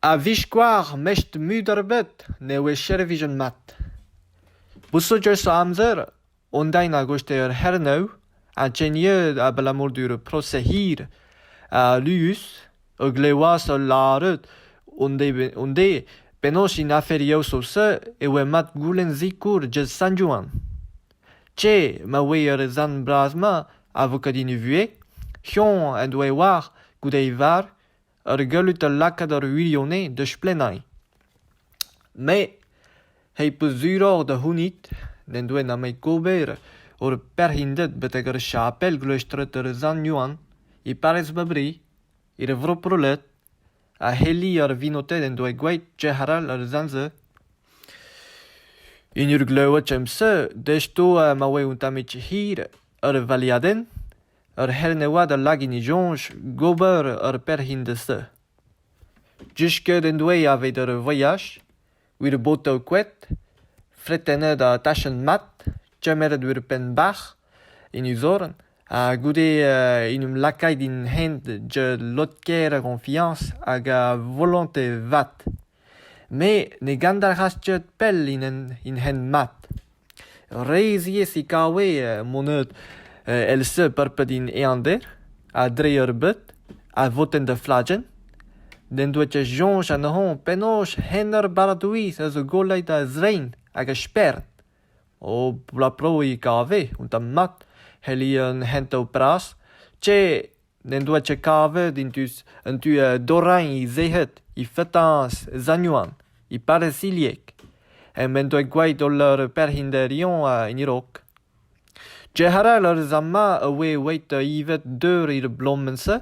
A-viskoazh mestr-mud ebet ne oe servijet mat. Boussoudus o amzer hon dae da goustet ur c'hernev ha teniet abalamour d'ur prosez hir ha alus o klevoas o lâret hon de penaos en aferiañ ouzh-se e oe mat goulenn sikour Jed Sant-Juan. Te, ma oe er sant bras-mañ a vo ket hini vuhez, choñ en doe war goude e varv Ur galloud a lakaat ar wirionez da splennañ. Me, he peus suroc'h da c'hounit, n'en doa nemet ober ur perc'hinded betek ar chapel gleustret er Sant Yoann, e parrez Mabri, er vro Prolet, ha Heli ar vinoted en doa gwraet trec'h arall ar sant-se. En ur gleved em seul, desto ma oa un tammig hir ar valiadenn, Ur c'hernevad a lak en e soñj gober ur perc'henn da se. Disket en doe evit ur voyaj, wir botoù koad, fretennet ha tachenn mat, kemeret wir penn-bac'h en e zorn ha goude en em lakaet en hent da lod-kaer a goñfiañs hag a volontez vat. Me ne gandalc'has ket pell in hent mat. Reizhiez e kave mon-eud èl-se purpet int eander ha dre ur beud a votent da fladenn. N'en doa ket soñj anezhoñ penaos hent ar barr-doueez a zo golleit a-zrein hag a-spern. O bloaz-pro e kave un tamm mat, c'helli an hentañ bras. Te... n'en doa ket kavet en deus an tu dorrañ he zec'hed he fetañs e zañouan e parrezilheg ha m'en doa gwraet holl ar perc'hinderion en e-raok. Diarall a rez ama a oe eweit ivet deur er bloaz-se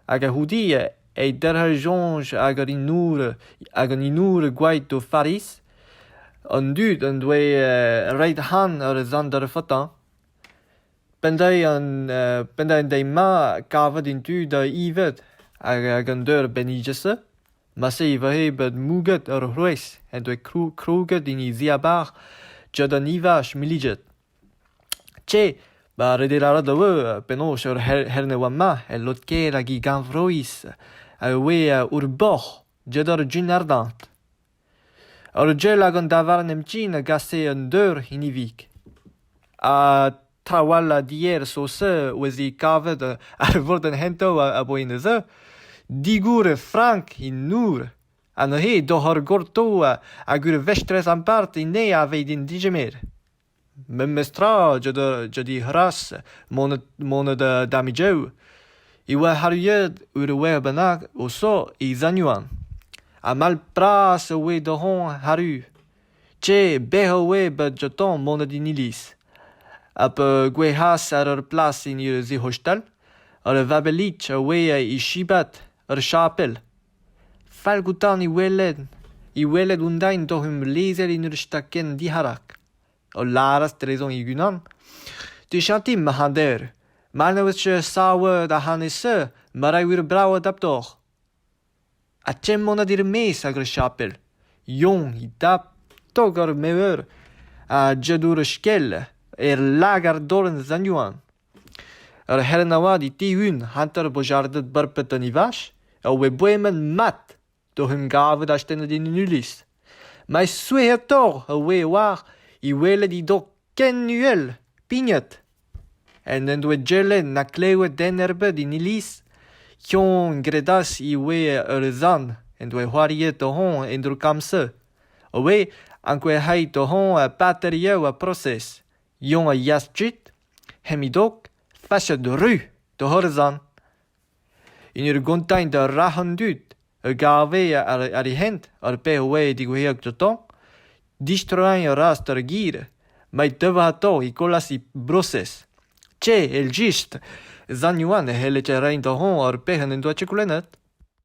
hag a-c'houde e derc'hejont hag an inour hag an inour gwraet d'o fariz. An dud en doe roet han ar zant d'ar fetañ. Penn-deiz an penn-deiz an deiz-mañ kavet int tu da evit hag an deur benniget-se ma-se e voe bet mouget ur c'hloaz en doa krouget en e ziabarzh tud an evaj milliget. Tse, ma rede lâret e oa penaos ur c'hern e oa-mañ e lod-kaer hag e gannvroiz a oe ur boc'h diaes ar jin ardant. An ugel hag an davarn emptin a gase un deur hiniv-ik. Ha trawalc'h dier Saoz-Su a oa se kavet ar vordenn c'hentañ a-boa en e-zu. Digour e frank he nour. Ha neuze doc'h ur gorto hag ur vestrez ampart enne a vez din digemer. Memes tra jeu da c'hras moned damidiou e oa arruet ur wer bennak o so e Zañuan. Ha mall-bras e oe d'hon arru. Te bec'h a oe bet joutañ moned en iliz. Ha pa gouezhas àr ur plas en ur sac'h-hostal, ur vabellig a oe e chibat ur chapel. Fall gantañ he welet, he welet hon-dain doc'h em lezel en ur stakenn diharak, o lâras drezañ e-unan: ''Te chanti, marc'hader, ma ne ouezfe savet ac'hanez-se, ma ray wir brav adaptoc'h.'' Ha chemanat er-maez ag ur chapel, Yann he dap tok ar mever ha Jadour ur skell, er lagad dolenn Sanyouen. Ur c'helenn avat e Tihun hanter bojarded Barped an Ivash a oa boemet mat d'oc'h em gavout astennet en un iliz. Ma souezhetoc'h a oe war e welet he dog ken uhel pignet ha n'en doa Jelen na klevet den ebet en iliz ken gredas e oe ur zan en doa c'hoariet oc'h en droukam-se, a oe ankouaet oc'h ar paterioù ha prosez. Yoñ a yeas kuit Hemidok, fachet ru da Horazan, en ur gontañ da rac'h an dud a gave àr e hent ar pezh a oa digouezhiek gantañ, distroiñ a ras d'ar gir met teuañ atav e kollas e brosez. Te, evel-just, sant Yoann a c'helle reiñ da-hont ar pezh en en doa chekolennet.